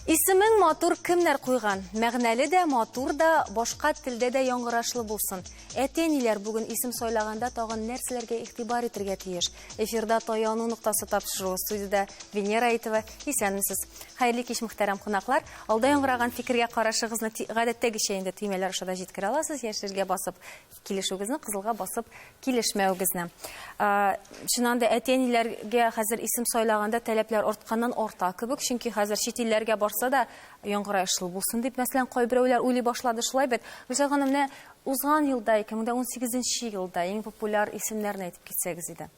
Исемең матур кемнәр куйган? Мәгънәле дә, матур да, башка телдә дә яңгырашлы булсын. Әти-әниләр бүген исем сайлаганда тагын нәрсәләргә игътибар итәргә тиеш? Эфирда таяну ноктасы тапшыру студиядә Венера Әйтова. Исәнмесез. Хәерле кич мөхтәрәм кунаклар. Алда яңгыраган фикергә карашыгызны гадәттәгечә инде төймәләр аша да җиткерә аласыз. Яшелгә басып килешүегезне, кызылга басып килешмәвегезне. Чыннан да әти-әниләргә хәзер исем сайлаганда таләпләр артканнан арта кебек, чөнки хәзер чит илләргә барса да яңгырай шул булсын дип, мәсәлән, кайберәүләр уйлый башлады шулай бит. Гөлсәй ханым, менә Узган елда, 2018 нче елда иң популяр исемнәрне әйтеп китсәгез иде.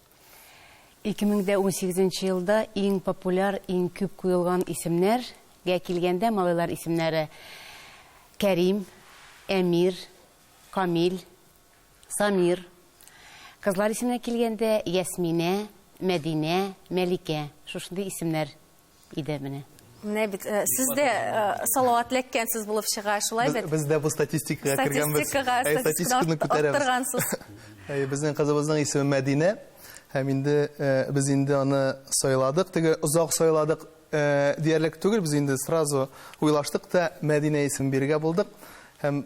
2018 нче елда иң популяр, иң күп куелган исемнәр гә килгәндә, малайлар исемнәре, Кәрим, Әмир, Камил, Самир. Кызлар исеменә килгәндә, Ясминә, Мәдинә, Мәликә. Шушындый исемнәр. иде менә. Менә бит э, сез дә э, салават ләккәнсез булып чыга, шулай бит? Без дә бу статистикага кергәнбез. Статистикага, статистиканы күтәрәбез. Әй, безнең кызыбызның исеме Мәдинә. Һәм инде э, без инде аны сайладык, теге озак сайладык диярлек түгел, без инде сразу уйлаштык та Мәдинә исемен бирергә булдык. Һәм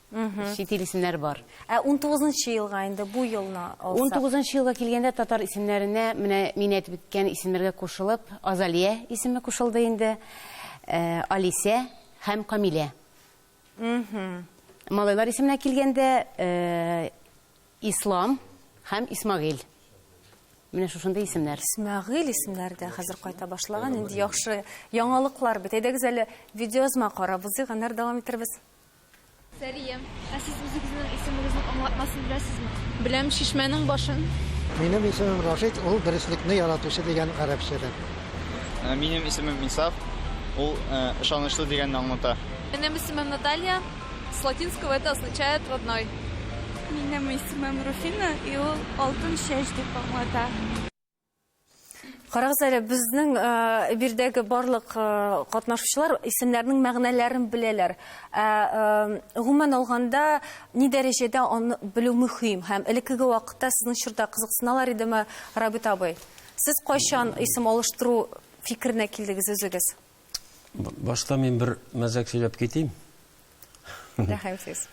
чит ил исемнәре бар. Ә 19 елга инде бу елны алсак? 19 елга килгәндә татар исемнәренә менә мин әйтеп үткән исемнәргә кушылып, Азалия исеме кушылды инде, э, Алисә һәм Камилә. Малайлар исеменә килгәндә, э, Ислам һәм Исмагыйль. Менә шушындый исемнәр. Исмәгыйль исемнәре дә хәзер кайта башлаган. Инде яхшы яңалыклар бит. Әйдәгез әле видеоязма карап узыйк, аннары дәвам итәрбез. Сәрия. Ә сез үзегезнең исемегезнең аңлатмасын беләсезме? Беләм, чишмәнең башын. Минем исемем Рашид, ул дөреслекне яратучы дигән гарәпчәдән. Минем исемем Инсаф, ул ышанычлы дигәнне аңлата. Минем исемем Наталья, с латинского это означает родной. Минем исемем Руфина, и ул алтын чәч дип аңлата. Карагыз әле, безнең э, бирдәге барлык э, катнашучылар исемнәрнең мәгънәләрен беләләр. Ә э, гомумән алганда ни дәрәҗәдә аны белү мөһим һәм элеккеге вакытта сезнең чорда кызыксыналар идеме, Рабит абый? Сез кайчан исем алыштыру фикеренә килдегез үзегез? Башта мин бер мәзәк сөйләп китим. Рәхим сез.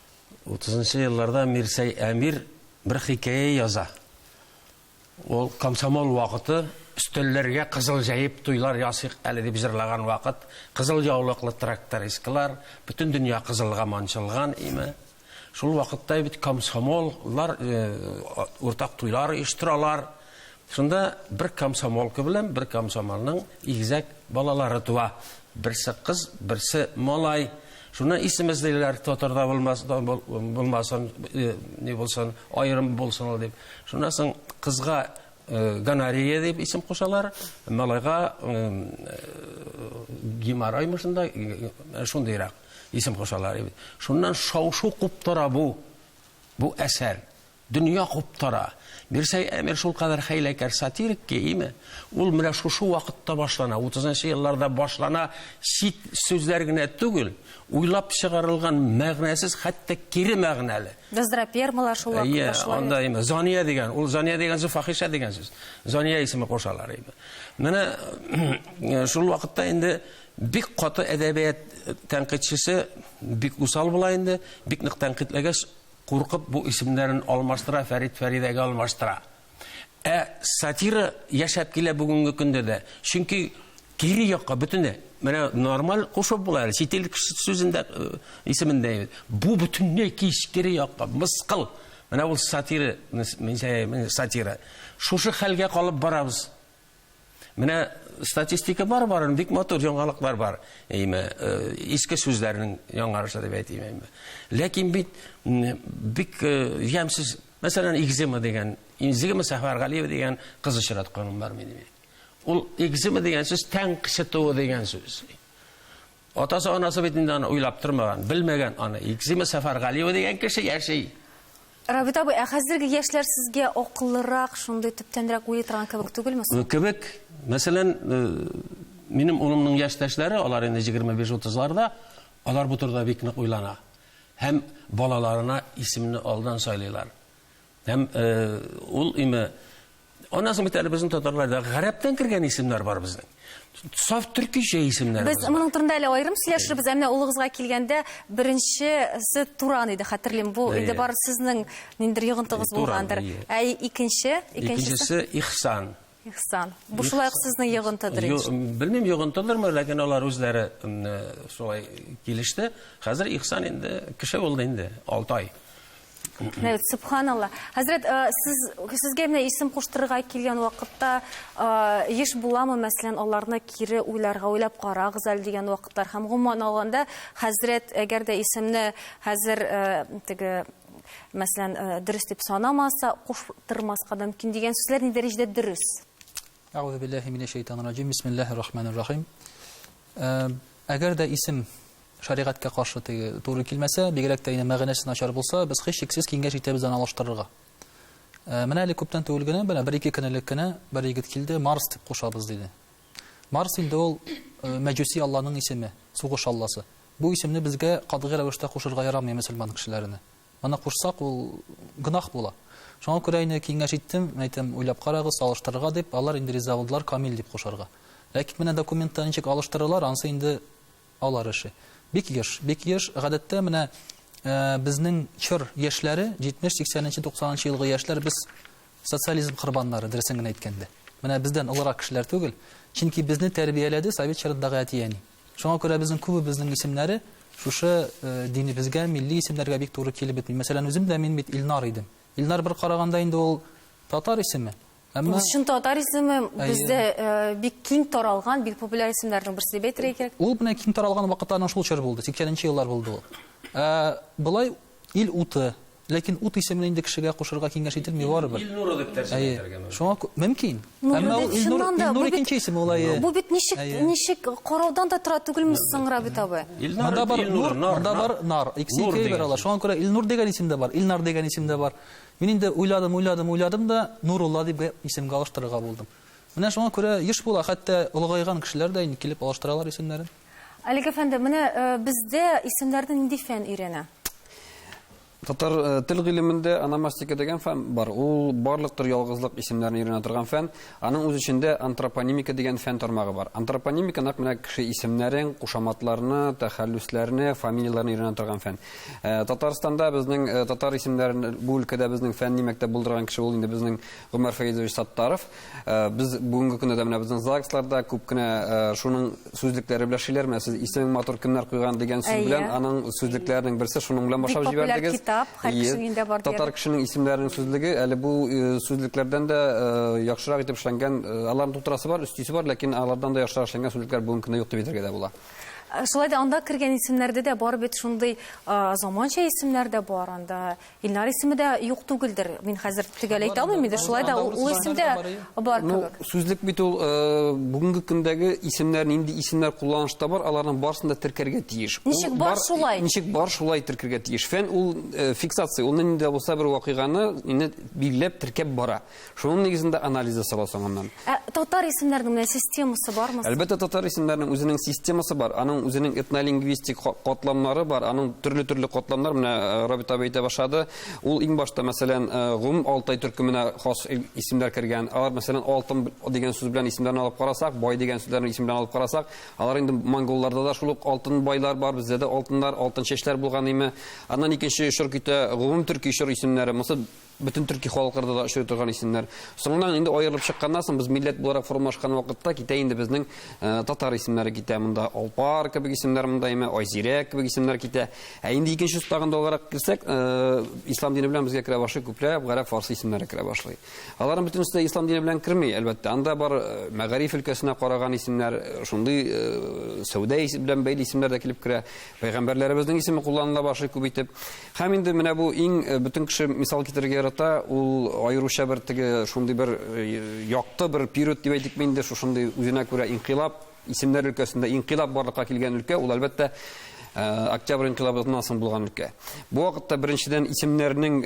30 елларда Мирсәй Әмир бер хикәя яза. Ул комсомол вакыты өстәлләргә кызыл җәеп туйлар ясыйк әле дип җырлаган вакыт, кызыл яулыклы трактористкалар, бөтен дөнья кызылга манчылган име. Шул вакытта бит комсомоллар уртак туйлар оештыралар. Шунда бер комсомолка белән бер комсомолның игезәк балалары туа. Берсе кыз, берсе малай. Шуны исемез диләр, татарда булмас, булмасын, не булсын, аерым булсын ул дип. Шуннан соң кызга гонорея дип исем кушалар, малайга геморроймы шунда, шундыйрак исем кушалар. Шуннан шау-шу куптара бу, бу әсәр. Дөнья куптара. Мирсәй Әмир шулкадәр хәйләкәр сатирик ки, име? Ул менә шушы вакытта башлана, утызынчы елларда башлана, чит сүзләр генә түгел, уйлап чыгарылган мәгънәсез, хәтта кире мәгънәле. Газдрапермалар шул вакыт башлана. Әйе, анда име? Зания дигән, ул Зания дигән сүз фахиша дигән сүз. Зания исеме кушалар име? Менә шул вакытта инде бик каты әдәбият тәнкыйтьчесе бик усал була инде, бик нык тәнкыйтьләгәч, Куркып бу исемнәрен алмаштыра, Фәрит Фәридәгә алмаштыра. Ә сатира яшәп килә бүгенге көндә дә. Чөнки кире якка бөтенләй менә нормаль кушып була әле чит ил кеше сүзендә э, исемендә бу бөтенләй кире якка мыскыл менә ул сатира сатира шушы хәлгә калып барабыз Менә статистика бар барын, бик матур яңалыклар бар. Әйме, э, иске сүзләрнең яңарышы дип әйтим әйме. Ләкин бит бик э, ямсыз, мәсәлән, экзема дигән, экзема Сәфәр Галиев дигән кыз очратканым бар минем. Ул экзема дигән сүз тәң кычытуы дигән сүз. Атасы-анасы бит инде аны уйлап тормаган, белмәгән аны. Икзима Сәфәргалиева дигән кеше яши. Рабит абый, ә хәзерге яшьләр сезгә акыллырак, шундый төптәнрәк уйлый торган кебек түгелме соң? Кебек. Мәсәлән, минем улымның яшьтәшләре, алар инде 25-30-ларда, алар бу турыда бик нык уйлана. Һәм балаларына исемне алдан сайлыйлар. Һәм ул име Аннан соң бит әле безнең татарларда гарәптән кергән исемнәр бар безнең. Саф төркичә исемнәр. Без моның турында әле аерым сөйләшербез. Әмма улыгызга килгәндә беренчесе Туран иде, хәтерлим. Бу инде бар сезнең ниндер йогынтыгыз булгандыр. Ә икенче, икенчесе Ихсан. Ихсан. Бу шулай ук сезнең йогынтыдыр инде. Белмим, йогынтыдырмы, ләкин алар үзләре шулай килеште. Хәзер Ихсан инде кеше булды инде, Алтай. Мәүт, субханалла. Хәзрәт, э, сез сезгә менә исем куштырырга килгән вакытта э, еш буламы, мәсәлән, аларны кире уйларга, уйлап карагыз әле дигән вакытлар һәм гомумән алганда, хәзрәт, әгәр дә исемне хәзер э, теге мәсәлән, э, дөрес дип санамаса, куштырмаска да мөмкин дигән сүзләр ни дәрәҗәдә дөрес? Әгъүзу биллаһи минәш шәйтанир раҗим. Бисмиллаһир рахманир рахим. Э, Әгәр дә исем Шәригатькә каршы теге туры килмәсә, бигрәк тә инде мәгънәсе начар булса, без һичшиксез киңәш итәбез аны алыштырырга. Менә әле күптән түгел генә, менә бер-ике көн элек кенә бер егет килде, Марс дип кушабыз, диде. Марс инде ул мәҗүси алланың исеме, сугыш алласы. Бу исемне безгә катгый рәвештә кушырга ярамый мөселман кешеләренә. Моны кушсак, ул гөнаһ була. Шуңа күрә инде киңәш иттем, әйтәм, уйлап карагыз, алыштырырга дип, алар инде риза булдылар Камил дип кушарга. Ләкин менә документта ничек алыштыралар, анысы инде Алар эше. Бик еш, бик еш. Гадәттә, менә безнең чор яшьләре, 70, 80 нче, 90 нчы елгы яшьләр, без социализм корбаннары, дөресен генә әйткәндә. Менә бездән олырак кешеләр түгел. Чөнки безне тәрбияләде совет чорындагы әти-әни. Шуңа күрә безнең күбебезнең исемнәре шушы динебезгә, милли исемнәргә бик туры килеп бетми. Мәсәлән, үзем дә, мин бит Илнар идем. Илнар бер караганда инде ул татар исеме, Әмма... Ул чын татар исеме, бездә э, бик киң таралган, бик популяр исемнәрнең берсе дип әйтергә кирәк. Ул менә киң таралган вакытта аның шул чор булды, 80-нче еллар булды ул. Ә, былай ил уты, ләкин ут исемен инде кешегә кушырга киңәш ителми барыбер. Ил нуры дип тәрҗемә итәргә мөмкин. Шуңа мөмкин. Әмма ул ил нуры, ил нуры икенче исем ул әйе. Бу бит ничек ничек караудан да тора түгелме соң Рабит абый? Монда бар нур, монда бар нар. Икесе икәү бер ала. Шуңа күрә Илнур дигән исем дә бар, Илнар дигән исем дә бар. Мин инде уйладым, уйладым, уйладым да, Нурулла дип исемгә алыштырырга булдым. Менә шуңа күрә еш була, хәтта олыгайган кешеләр дә инде килеп алыштыралар исемнәрен. Олег әфәнде, менә бездә исемнәрне нинди фән өйрәнә? Татар тел гыйлемендә аномастика дигән фән бар. Ул барлык төр ялгызлык исемнәрен өйрәнә торган фән. Аның үз эчендә антропонимика дигән фән тармагы бар. Антропонимика нәкъ менә кеше исемнәрен, кушаматларны, тәхәллүсләрне, фамилияләрне өйрәнә торган фән. Э, Татарстанда безнең э, татар исемнәрен бу өлкәдә безнең фәнни мәктәп булдырган кеше ул инде безнең Гомәр Фәйзович Саттаров. Э, без бүгенге көндә дә менә безнең ЗАГСларда күп кенә шуның сүзлекләре белән шиләр, менә сез исемең матур кемнәр куйган дигән сүз белән аның сүзлекләренең берсе шуның белән башлап җибәрдегез. Китап, һәр кешенең инде бар. Татар кешенең исемнәренең сүзлеге әле бу сүзлекләрдән дә яхшырак итеп эшләнгән, аларны тутырасы бар, өстисе бар, ләкин алардан да яхшырак эшләнгән сүзлекләр бүгенге көндә юк дип әйтергә дә була. Шулай да анда кергән исемнәрдә дә бар бит шундый заманча исемнәр дә бар анда. Илнар исеме дә юк түгелдер. Мин хәзер төгәл әйтә алмыйм инде. Шулай да ул исем дә бар ну, кебек. Ну, сүзлек бит ул э, бүгенге көндәге исемнәр, нинди исемнәр кулланышта бар, аларның барысын да теркәргә тиеш. Ничек бар шулай? Ничек бар шулай теркәргә тиеш. Фән ул э, фиксация, ул нинди булса бер вакыйганы инде билгеләп теркәп бара. Шуның нигезендә анализ ясала соңыннан. Ә татар исемнәренең менә системасы бармы? Әлбәттә, татар исемнәренең үзенең системасы бар, аның үзенең этнолингвистик катламнары бар, аның төрле-төрле катламнар, менә э, Рабит абый әйтә башлады. Ул иң башта, мәсәлән, э, гомум Алтай төркеменә хас исемнәр кергән. Алар, мәсәлән, алтын дигән сүз белән исемнәрен алып карасак, бай дигән сүзләрне исем белән алып карасак, алар инде монголларда да шул ук алтын байлар бар, бездә дә алтыннар, алтын чәчләр булган име. Аннан икенче чор китә, гомум төрки чор исемнәре. Монысы бөтен төрки халыкларда да очрый торган исемнәр. Соңыннан инде аерылып чыкканнан соң без милләт буларак формалашкан вакытта китә инде безнең э, татар исемнәре китә. Монда Алпар кебек исемнәр монда име, Айзирә кебек исемнәр китә. Ә инде икенче тагын алгарак килсәк, э, ислам дине белән безгә керә башлый күпләп гарәп фарсы исемнәре керә башлый. Аларның бөтенесе дә ислам дине белән керми, әлбәттә. Анда бар э, мәгариф өлкәсенә караган исемнәр, шундый сәүдә белән бәйле исемнәр дә килеп керә. Пәйгамбәрләребезнең исеме кулланыла башлый күп итеп. Һәм инде менә бу иң э, бөтен кеше мисал китерергә ярата, ул аеруча бер теге шундый бер э, якты бер период дип әйтик инде, шушындый үзенә күрә инкыйлаб, исемнәр өлкәсендә инкыйлаб барлыкка килгән өлкә, ул әлбәттә э, октябрь инкыйлабыннан соң булган өлкә. Бу вакытта беренчедән исемнәрнең,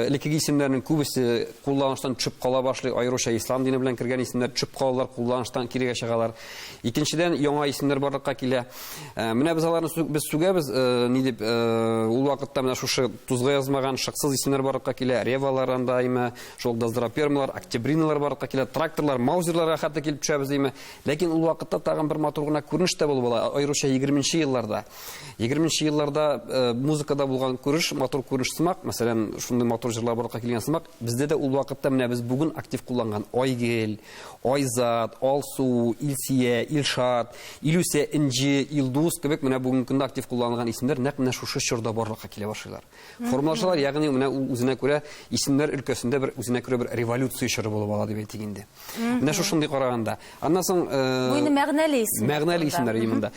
элеккеге исемнәрнең күбесе кулланыштан төшеп кала башлый, аеруча ислам дине белән кергән исемнәр төшеп калалар, кулланыштан кирегә чыгалар. Икенчедән, яңа исемнәр барлыкка килә. Ә, менә без аларны сү- без сүгәбез, э, ни дип, э, ул вакытта менә шушы тузга язмаган шыксыз исемнәр барлыкка килә, ревалар анда име, шул доздрапермалар, октябриналар барлыкка килә, тракторлар, маузерларга хәтта килеп төшәбез име. Ләкин ул вакытта тагын бер матур гына күренеш тә булып ала, аеруча 20 елларда. 20 елларда э, музыкада булган күреш, матур күреш сымак, мәсәлән, шундый матур җырлар барлыкка килгән сымак, бездә дә ул вакытта менә без бүген актив кулланган Айгел, Айзат, Алсу, Илсия, Илшат, Илүсә, Энҗе, Илдус кебек менә бүгенге көндә актив кулланылган исемнәр нәкъ менә шушы чорда барлыкка килә башлыйлар. Формалашалар, ягъни менә ул үзенә күрә исемнәр өлкәсендә бер үзенә күрә бер революция чоры булып ала дип әйтик инде. Менә шушындый караганда. Аннан соң Бу инде мәгънәле исем. Мәгънәле исемнәр имында.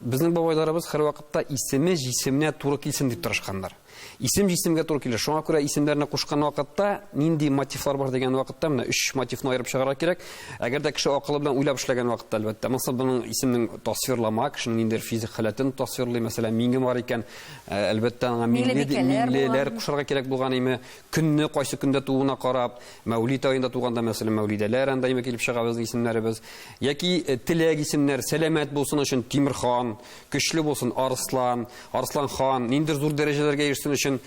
Безнең бабайларыбыз һәрвакытта исеме җисеменә туры килсен дип тырышканнар. Исем җисемгә туры килер. Шуңа күрә исемнәрне кушкан вакытта нинди мотивлар бар дигән вакытта менә өч мотивны аерып чыгарга кирәк. Әгәр дә кеше акылы белән уйлап эшләгән вакытта, әлбәттә, монысы моның исемнең тасвирлама, кешенең ниндидер физик халәтен тасвирлый, мәсәлән, миңе бар икән, ә, әлбәттә, аңа миңле ди- Миңлебикәләр миңлеләр булган. кушарга кирәк булган име, көнне кайсы көндә тууына карап, мәүлид аенда туганда, мәсәлән, мәүлидәләр анда име килеп чыга безнең исемнәребез. Яки э, теләк исемнәр, сәламәт булсын өчен Тимерхан, Көчле булсын Арслан, Арслан хан, ниндер зур дәрәҗәләргә ирешсен өчен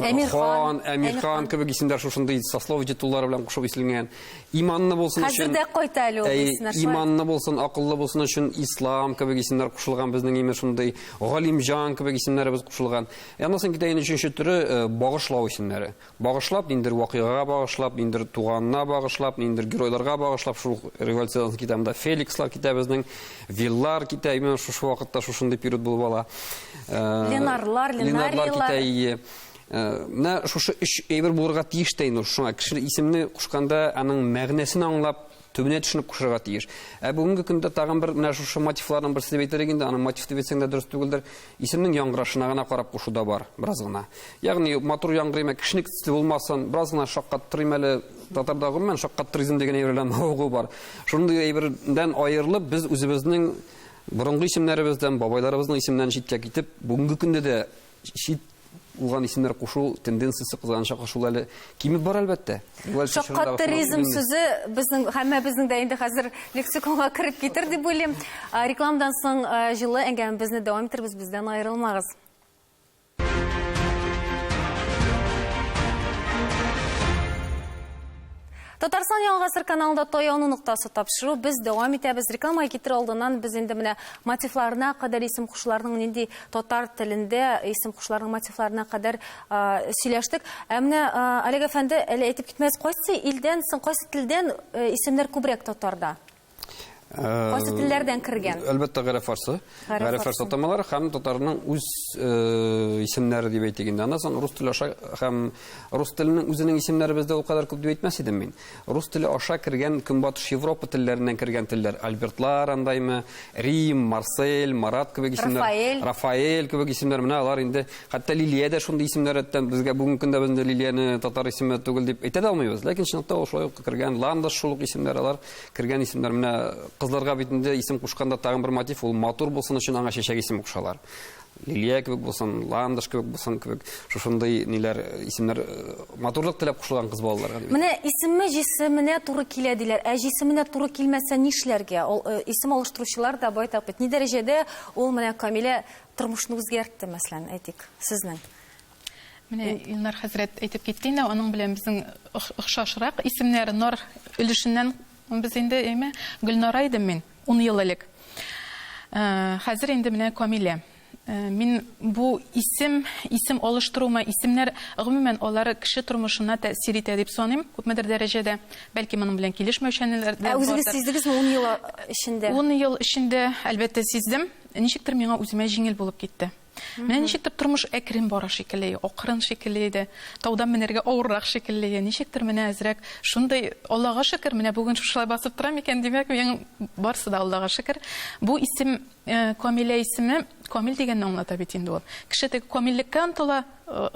Әмирхан, Әмирхан кебек исемдәр шушындый сослов титуллары белән кушып исленгән. Иманны булсын өчен. Хәзер дә кайта әле ул исемнәр. Иманны булсын, акыллы булсын өчен Ислам кебек исемнәр кушылган безнең имеш шундый. Галимҗан кебек исемнәребез кушылган. Янысын китә инде өченче төре багышлау исемнәре. Багышлап, ниндидер вакыйгага багышлап, ниндидер туганына багышлап, ниндидер геройларга багышлап, шул ук революцион китабында Феликслар китә безнең, Виллар китә, именно шушы вакытта шушындый период булып ала. Э, Ленарлар, Ленарлар Ленариялар. китә, ие. Э, Менә шушы өч әйбер булырга тиеш тә инде ул. Шуңа кеше исемне кушканда аның мәгънәсен аңлап, төбенә төшенеп кушырга тиеш. Ә бүгенге көндә тагын бер менә шушы мотивларның берсе дип әйтерлек инде, аны мотив дип әйтсәң дә дөрес түгелдер. Исемнең яңгырашына гына карап кушу да бар, бераз гына. Ягъни матур яңгырыйм, ә кешенеке төсле булмасын, бераз гына шаккаттырыйм әле. Татарда гомумән шаккаттыризм дигән әйбер белән мавыгу бар. Шундый әйбердән аерылып, без үзебезнең борынгы исемнәребездән, бабайларыбызның исеменнән читкә китеп, бүгенге көндә дә чит булган исемнәр кушу тенденциясе кызганыча каршы ул әле кимеп бара әлбәттә. Шаккат туризм сүзе безнең һәммәбезнең дә инде хәзер лексиконга кереп китер дип уйлыйм. Рекламадан соң җылы әңгәмәбезне дәвам иттербез, бездән аерылмагыз. Татарстан Яңа гасыр каналында таяну ноктасы тапшыру без дәвам итәбез. Рекламага китерү алдыннан без инде менә мотивларына кадәр исем кушларының нинди татар телендә исем кушларының мотивларына кадәр сөйләштек. Ә менә Олег әфәнде әле әйтеп китмәс, кайсы илдән соң, кайсы телдән исемнәр күбрәк татарда? Кайсы телләрдән кергән? Әлбәттә, гарәп фарсы. Гарәп фарсы атамалары һәм татарның үз исемнәре дип әйтик инде. Аннан соң рус теле аша һәм рус теленең үзенең исемнәре бездә ул кадәр күп дип әйтмәс идем мин. Рус теле аша кергән Көнбатыш Европа телләреннән кергән телләр. Альбертлар андаймы, Рим, Марсель, Марат кебек исемнәр. Рафаэль. Рафаэль кебек исемнәр. Менә алар инде хәтта Лилия дә шундый исемнәр әттән безгә бүгенге көндә безне Лилияне татар исеме түгел дип әйтә дә алмыйбыз. Ләкин чынлыкта ул шулай ук кергән. Ландыш шул ук исемнәр алар. кергән исемнәр менә кызларга бит инде исем кушканда тагын бер мотив ул матур булсын өчен аңа чәчәк исеме кушалар лилия кебек булсын ландыш кебек булсын кебек шушындый ниләр исемнәр э, матурлык теләп кушылган кыз балаларга менә исеме җисеменә туры килә диләр ә җисеменә туры килмәсә нишләргә ул э, исем алыштыручылар да байтак бит ни дәрәҗәдә ул менә камилә тормышны үзгәртте мәсәлән әйтик сезнең Менә Илнар хәзрәт әйтеп китте инде, аның белән безнең охшашрак исемнәр Нор өлешеннән без инде, әйме, Гөлнара идем мин 10 ел элек. Э, хәзер инде менә Камилә. Э, мин бу исем, исем алыштыруыма, исемнәр гомумән алары кеше тормышына тәэсир итә дип саныйм, күпмедер дәрәҗәдә. Бәлки моның белән килешмәүчәнләр дә. Ә үзегез сиздегезме 10 ел эчендә? 10 ел эчендә, әлбәттә, сиздем. Ничектер миңа үземә җиңел булып китте. Менә ничектер тормыш әкрен бара шикелле, акрын шикелле иде. Таудан менәргә авыррак шикелле. Ничектер менә әзрәк шундый Аллага шөкер, менә бүген шушылай басып тора микән, димәк, мин барсы да Аллага шөкер. Бу исем э, Камилә исеме, Камил дигәнне аңлата бит инде ул. Кеше теге камиллеккә омтыла, э,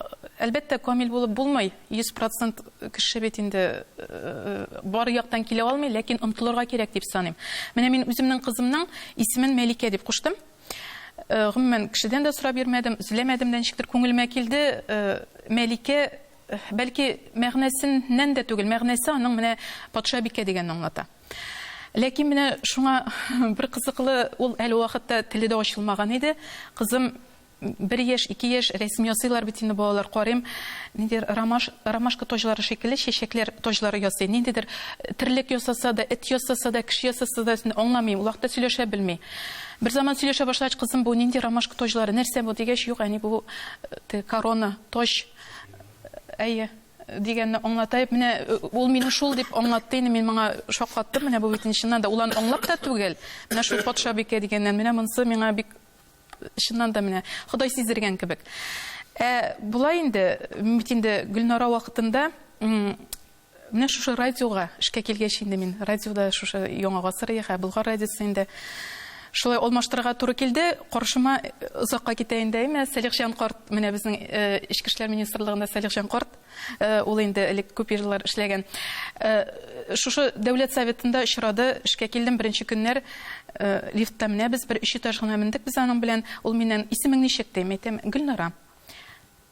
әлбәттә, камил булып булмый. 100% кеше бит инде э, бар яктан килә алмый, ләкин омтылырга кирәк дип саныйм. Менә мин үземнең кызымның исемен Мәликә дип куштым. Гомумән, кешедән дә сорап йөрмәдем, эзләмәдем дә, ничектер күңелемә килде. Мәликә, бәлки, мәгънәсеннән дә түгел, мәгънәсе аның менә патшабикә дигәнне аңлата. Ләкин менә шуңа бер кызыклы, ул әле вакытта теле дә ачылмаган иде. Кызым бер яшь, ике яшь, рәсем ясыйлар бит инде балалар, карыйм, ниндидер ромаш, ромашка таҗлары шикелле чәчәкләр таҗлары ясый. Ниндидер терлек ясаса да, эт ясаса да, кеше ясаса да, аңламыйм, ул вакытта сөйләшә белми. Берзаман сөйләшә башлагач, кызым, бу нинди ромашка тоҗлары, нәрсә бу, дигәч, юк, әни, бу теге корона, тож, әйе, дигәнне аңлатаеп, менә ул мине шул дип аңлатты инде, мин моңа шаккаттым, менә бу бит чыннан да, ул аны аңлап та түгел, менә шул патшабикә дигәннән, менә монысы миңа бик чыннан да менә Ходай сиздергән кебек. Ә болай инде, бит инде Гөлнара вакытында Менә шушы радиога эшкә килгәч инде мин радиода шушы Яңа гасыр яха Болгар радиосы инде шулай алмаштырырга туры килде. Каршыма озакка китә инде әйме, Сәлихҗан карт, менә безнең Эчке эшләр министрлыгында Сәлихҗан карт, ул инде элек күп еллар эшләгән. Шушы дәүләт советында очрады, эшкә килдем, беренче көннәр лифтта менәбез, бер өч этаж гына мендек без аның белән. Ул миннән, Исемең ничек? ди. Мин әйтәм, Гөлнара.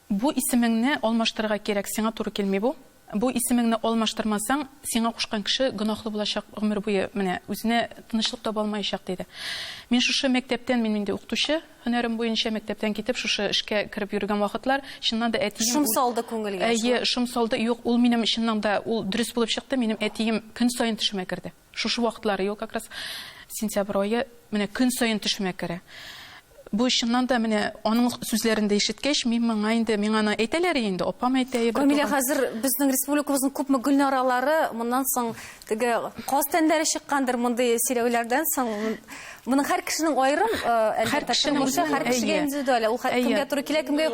Бу исемеңне алмаштырырга кирәк, сиңа туры килми бу. Бу исемеңне алмаштырмасаң, сиңа кушкан кеше гөнаһлы булачак гомер буе, менә, үзенә тынычлык таба алмаячак, диде. Мин шушы мәктәптән, мин инде укытучы һөнәрем буенча, мәктәптән китеп, шушы эшкә кереп йөргән вакытлар, чыннан да әтием... Шом салды күңелгә шул. Әйе, шом салды. Юк, ул минем, чыннан да, ул дөрес булып чыкты, минем әтием көн саен төшемә керде. Шушы вакытлар ел как раз сентябрь ае менә көн саен төшемә керә. Бу чыннан да менә аның сүзләрен дә ишеткәч, мин моңа инде миңа аны әйтәләр инде, апам әйтә. Камилә хәзер безнең республикабызның күпме гөлнаралары моннан соң теге каз тәннәре чыккандыр мондый сөйләүләрдән соң. Моның һәр кешенең аерым, һәр кешенең үзе һәр кешегә индивидуаль. Ул һәр кемгә туры килә, кемгә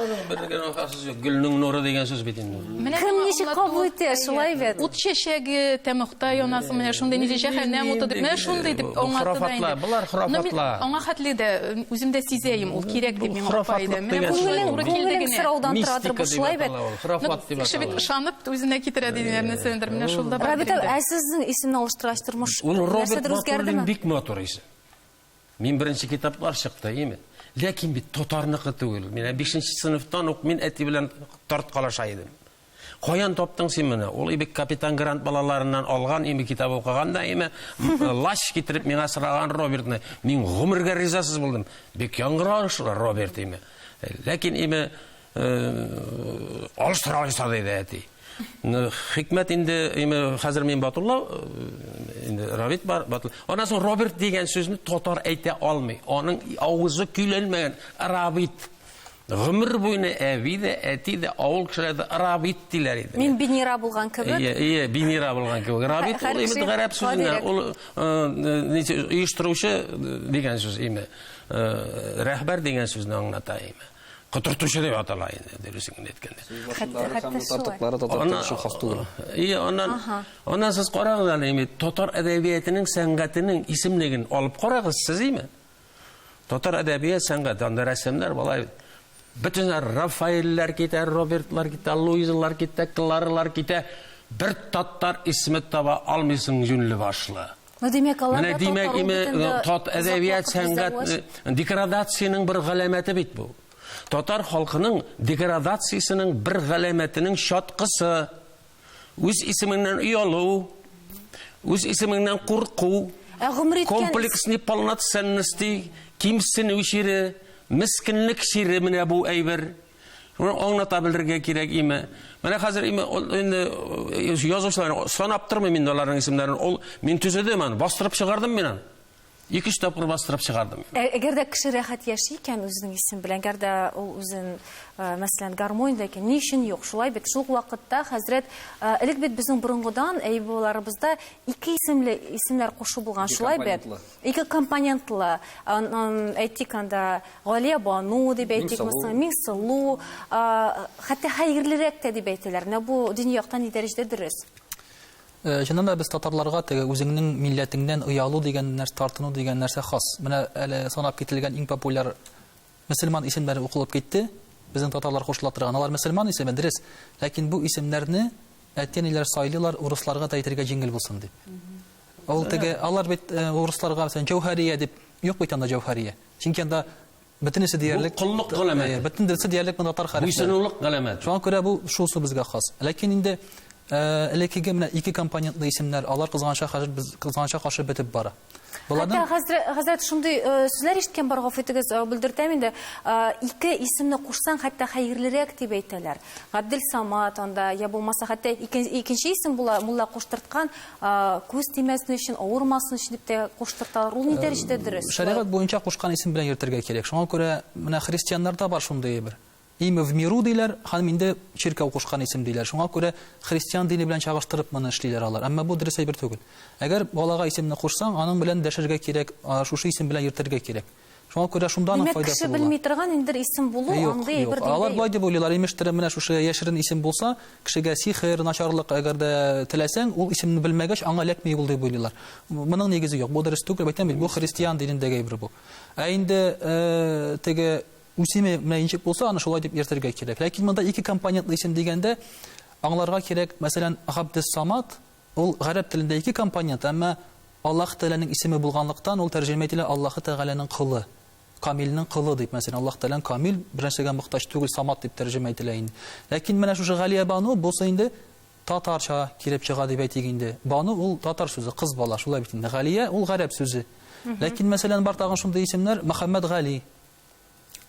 Гөлнең нуры дигән сүз бит инде. Кем ничек кабул итә, шулай бит. Ут чәчәге тәмохта янасың, менә шундый ничек җәһәннәм уты дип, менә шундый дип аңлатты да инде. Болар храфатлар. Аңа хәтле дә үзем дә сизәем, ул кирәк дип миңа апа әйтә. Менә күңелең туры килде генә. Сораудан торадыр бу, шулай бит. Храфат дип. Кеше бит ышанып үзенә китерә дигән нәрсәдер, менә шулда бар. Рабит, ә сезнең исемне алыштыргач тормыш нәрсәдер үзгәрдеме? Бик матур. сорыйсың. Мин беренче китаплар чыкты, әйеме? Ләкин бит татарныкы түгел. Мин 5 нче сыйныфтан ук мин әти белән тарткалаша идем. Каян таптың син моны? Ул ибек капитан Грант балаларыннан алган име китап укыган да име? Лач китереп миңа сыраган Робертны. Мин гомергә ризасыз булдым. Бик яңгыраш Роберт име. Ләкин име Алыш тора алыса диде әти. Хикмәт инде хәзер мин Батулла инде Равит бар. Аннан соң Роберт дигән сүзне татар әйтә алмый. Аның авызы көйләнмәгән. Равит. Гомер буена әби дә, әти дә, авыл кешеләре дә Равит диләр иде. Мин Бинира булган кебек. Ие, ие, Бинира булган кебек. Равит ул инде гарәп сүзенә, ул оештыручы дигән сүз име. Рәхбәр дигән сүзне аңлата име. котыртучы дип атала инде дөресен генә әйткәндә. И, аннан, аннан сез карагыз әле, имит, татар әдәбиятының сәнгатенең исемлеген алып карагыз, сез име? Татар әдәбият сәнгате, анда рәсемнәр болай бит. Бөтен Рафаэлләр китә, Робертлар китә, Луизалар китә, Кларалар китә. Бер татар исеме таба алмыйсың юнле башлы. Ну, димәк, алар Менә димәк, име, тат әдәбият сәнгатьне деградациянең бер галәмәте бит бу. Татар халкының деградациясенең бер галәмәтенең чаткысы үз исеменнән оялу, үз исеменнән курку, ә гомер иткән комплексный полноценности, кимсенү чире, мескенлек чире менә бу әйбер. Шуны аңлата белергә кирәк име? Менә хәзер име инде э, язучылар санап тормыйм инде аларның исемнәрен. Ул мин төзедем аны, бастырып чыгардым мин аны. Ике өч тапкыр бастырып чыгардым. Ә, әгәр дә кеше рәхәт яши икән үзенең исем белән, әгәр дә ул үзен, э, мәсәлән, гармониядә икән, ни өчен юк? Шулай бит, шул вакытта хәзрәт, э, элек бит безнең борынгыдан, әй бабаларыбызда ике исемле исемнәр кушу булган, шулай бит? Ике компонентлы, әйтик анда, Галия Бану дип әйтик, Миңсылу, хәтта хәерлерәк тә дип әйтәләр. Менә бу дини яктан ни дәрәҗәдә дөрес? Чыннан да без татарларга теге үзеңнең милләтеңнән оялу дигән нәрсә, тартыну дигән нәрсә хас. Менә әле санап кителгән иң популяр Мөселман исемнәре укылып китте, безнең татарлар кушыла торган, алар мөселман исеме, дөрес, ләкин бу исемнәрне әти-әниләр сайлыйлар урысларга да әйтергә җиңел булсын дип. Ул теге, алар бит э, урысларга, мәсәлән, Җәүһәрия дип, юк бит анда Җәүһәрия. Чөнки анда бөтенесе диярлек... Бу коллык галәмәте. Э, бөтен дөресе диярлек монда татар хәрефләре. Буйсынулык галәмәте. Шуңа күрә бу шул су безгә хас. Ләкин инде э, элеккеге менә ике компонентлы исемнәр, алар кызганча хәзер без кызганча каршы бетеп бара. Хәтта хәзрәт шундый э, сүзләр ишеткән бар, гафу итегез, э, белдертәм инде. Э, ике исемне кушсаң, хәтта хәерлерәк дип әйтәләр. Габдел Самат анда, я булмаса, хәтта икенче исем була, мулла куштырткан, күз тимәсен өчен, авырмасын өчен дип тә куштырталар. Ул ни дәрәҗәдә дөрес? Шәригать буенча кушкан исем белән йөртергә кирәк. Шуңа күрә менә христианнарда бар шундый бер Имя в миру диләр, ханым, инде чиркәү кушкан исем диләр, шуңа күрә христиан дине белән чагыштырып моны эшлиләр алар, әмма бу дөрес әйбер түгел. Әгәр балага исемне кушсаң, аның белән дәшергә кирәк, шушы исем белән йөртергә кирәк. Шуңа күрә шунда аның файдасы була. Димәк, кеше белми торган индер исем булу, андый әйбер диндә юк. Юк, юк. Алар болай дип уйлыйлар, имештер, менә шушы яшерен исем булса, кешегә сихер, начарлык әгәр дә теләсәң, ул исемне белмәгәч, аңа эләкми ул дип уйлыйлар. Моның нигезе юк, бу дөрес түгел, әйтәм бит, бу христиан динендәге әйбер бу. Ә инде теге Үсеме менә ничек булса, аны шулай дип йөртергә кирәк. Ләкин монда ике компонентлы исем дигәндә, аңларга кирәк, мәсәлән, Габдес-Самат, ул гарәп телендә ике компонент, әмма Аллаһ Тәгаләнең исеме булганлыктан, ул тәрҗемә ителә Аллаһы Тәгаләнең колы, Камилнең колы дип, мәсәлән, Аллаһ Тәгалә Камил, бернәрсәгә мохтаҗ түгел, Самат дип тәрҗемә ителә инде. Ләкин менә шушы Галиябану, бусы инде татарча килеп чыга дип әйтик инде. Бану ул татар сүзе, кыз бала, шулай бит инде. Галия ул гарәп сүзе. Ләкин, мәсәлән, бар тагын шундый исемнәр, Мөхәммәтгали,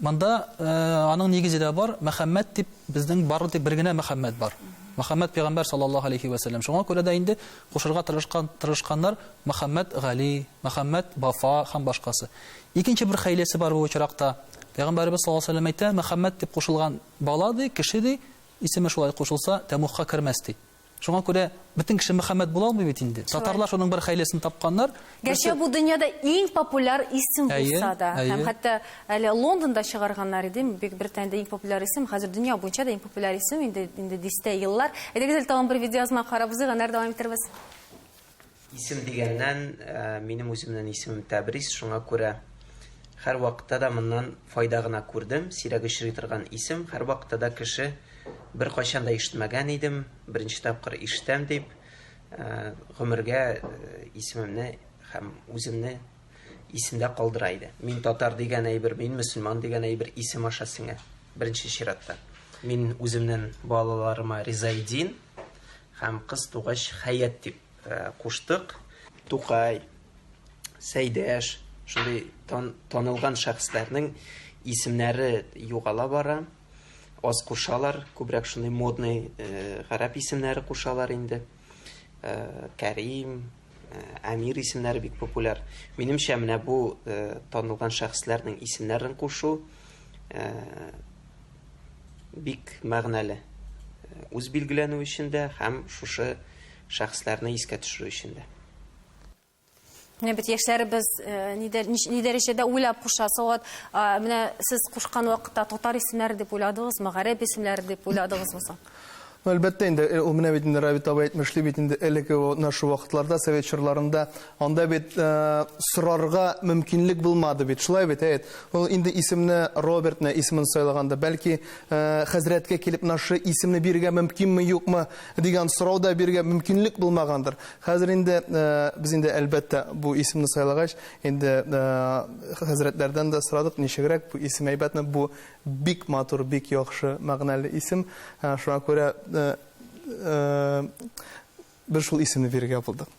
Монда аның нигезе дә бар, Мөхәммәд дип безнең бары тик бер генә Мөхәммәд бар. Мөхәммәд пәйгамбәр саллаллаһу алейхи ва саллям. Шуңа күрә дә инде кушырга тырышкан тырышканнар Мөхәммәд Гали, Мөхәммәд Вафа һәм башкасы. Икенче бер хәйләсе бар бу очракта. Пәйгамбәребез саллаллаһу алейхи ва саллям әйтә, Мөхәммәд дип кушылган бала ди, кеше ди, исеме шулай кушылса, тәмугка кермәс ди. Шуңа күрә бөтен кеше Мөхәммәд була алмый бит инде. Татарлар шуның бер хәйләсен тапканнар. Гәрчә бу дөньяда иң популяр исем булса да, һәм хәтта әле Лондонда чыгарганнар иде, бик Британиядә иң популяр исем, хәзер дөнья буенча да иң популяр исем инде инде дистә еллар. Әйдәгез әле тагын бер видеоязма карап узыйк, аннары дәвам итәрбез. Исем дигәннән, минем үземнен исемем Тәбрис, шуңа күрә хәр вакытта да моннан файда гына күрдем. Сирәк очрый торган исем, хәр вакытта да кеше бер кайчан да ишетмәгән идем, беренче тапкыр ишетәм дип, гомергә исемемне һәм үземне исемдә калдыра иде. Мин татар дигән әйбер, мин мөселман дигән әйбер исем аша сеңә, беренче чиратта. Мин үземнен балаларыма Ризаэддин, Һәм кыз тугач Хәят дип куштык. Тукай, Сәйдәш, шундый танылган шәхесләрнең исемнәре югала бара. Аз кушалар, күбрәк шундый модный гарәп исемнәре кушалар инде. Кәрим, Әмир исемнәре бик популяр. Минемчә, менә бу танылган шәхесләрнең исемнәрен кушу бик мәгънәле. Үз билгеләнү өчен дә һәм шушы шәхесләрне искә төшерү өчен дә. Менә бит яшьләребез э, ни дәрәҗәдә уйлап куша. Сават, менә сез кушкан вакытта татар исемнәре дип уйладыгызмы, гарәп исемнәре дип уйладыгызмы соң? Ну, әлбәттә инде, э, ул менә бит инде Равит абый әйтмешли бит инде элеке о, на шу вакытларда, совет чорларында анда бит э, сорарга мөмкинлек булмады бит, шулай бит, әйт. Ул инде исемне Робертны исемен сайлаганда, бәлки э, хәзрәткә килеп нашы исемне бирергә мөмкинме, юкмы дигән сорау да бирергә мөмкинлек булмагандыр. Хәзер инде э, без инде әлбәттә бу исемне сайлагач, инде э, хәзрәтләрдән дә сорадык, ничегрәк бу исем әйбәтме, бу Бик матур, бик яхшы, мәгънәле исем. Шуңа күрә без шул исемне бирергә булдык.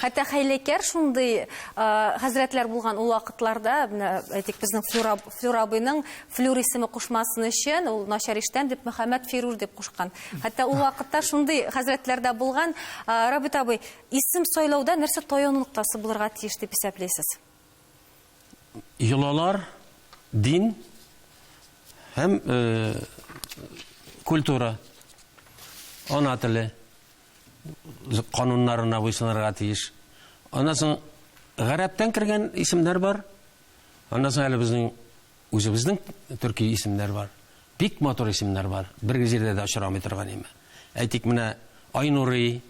Хәтта хәйләкәр шундый хәзрәтләр булган ул вакытларда, менә әйтик, безнең Флюра, Флюра абыйның Флюр исеме кушмасын өчен, ул начар иштән дип Мөхәммәд Фирур дип кушкан. Хәтта ул вакытта шундый хәзрәтләр дә булган. Рабит абый, исем сайлауда нәрсә таяну ноктасы булырга тиеш дип исәплисез? йолалар, дин һәм культура, ана теле кануннарына буйсынырга тиеш. Аннан соң гарәптән кергән исемнәр бар. Аннан соң әле безнең Үзебезнең төрки исемнәр бар. Бик матур исемнәр бар. Бер җирдә дә очрамый торган име. Әйтик, менә Айнурый,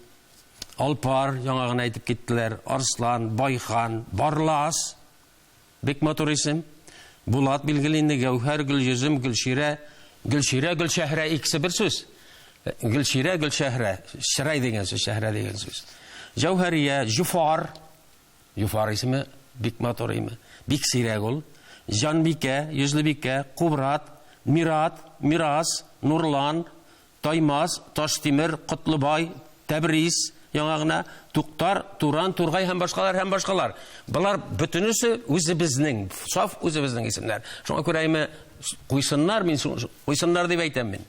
Алпар, яңа гына әйтеп киттеләр, Арслан, Байхан, Барлас. Бик матур исем. Булат, билгеле инде, Гәүһәр, Гөлйөзем, Гөлчирә. Гөлчирә, Гөлшәһрә икесе бер сүз. Гөлчирә, Гөлшәһрә. Чырай дигән сүз, шәһрә дигән сүз. Җәүһәрия, Җуфар. Җуфар исеме бик матур име. Бик сирәк ул. Җанбикә, Йөзлебикә, Кубрат, Мират, Мирас, Нурлан, Таймас, Таштимер, Котлыбай, Тәбрис, яңа гына, Туктар, Туран, Тургай һәм башкалар һәм башкалар. Болар бөтенесе үзебезнең, саф үзебезнең исемнәр. Шуңа күрә име куйсыннар, мин куйсыннар дип әйтәм мин.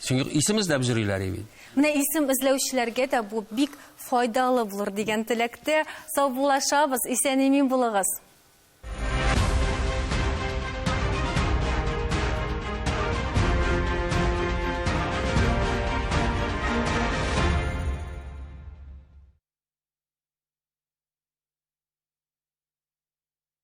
Чөнки исем эзләп йөриләр и бит. Менә исем эзләүчеләргә дә бу бик файдалы булыр дигән теләктә саубуллашабыз, исән-имин булыгыз.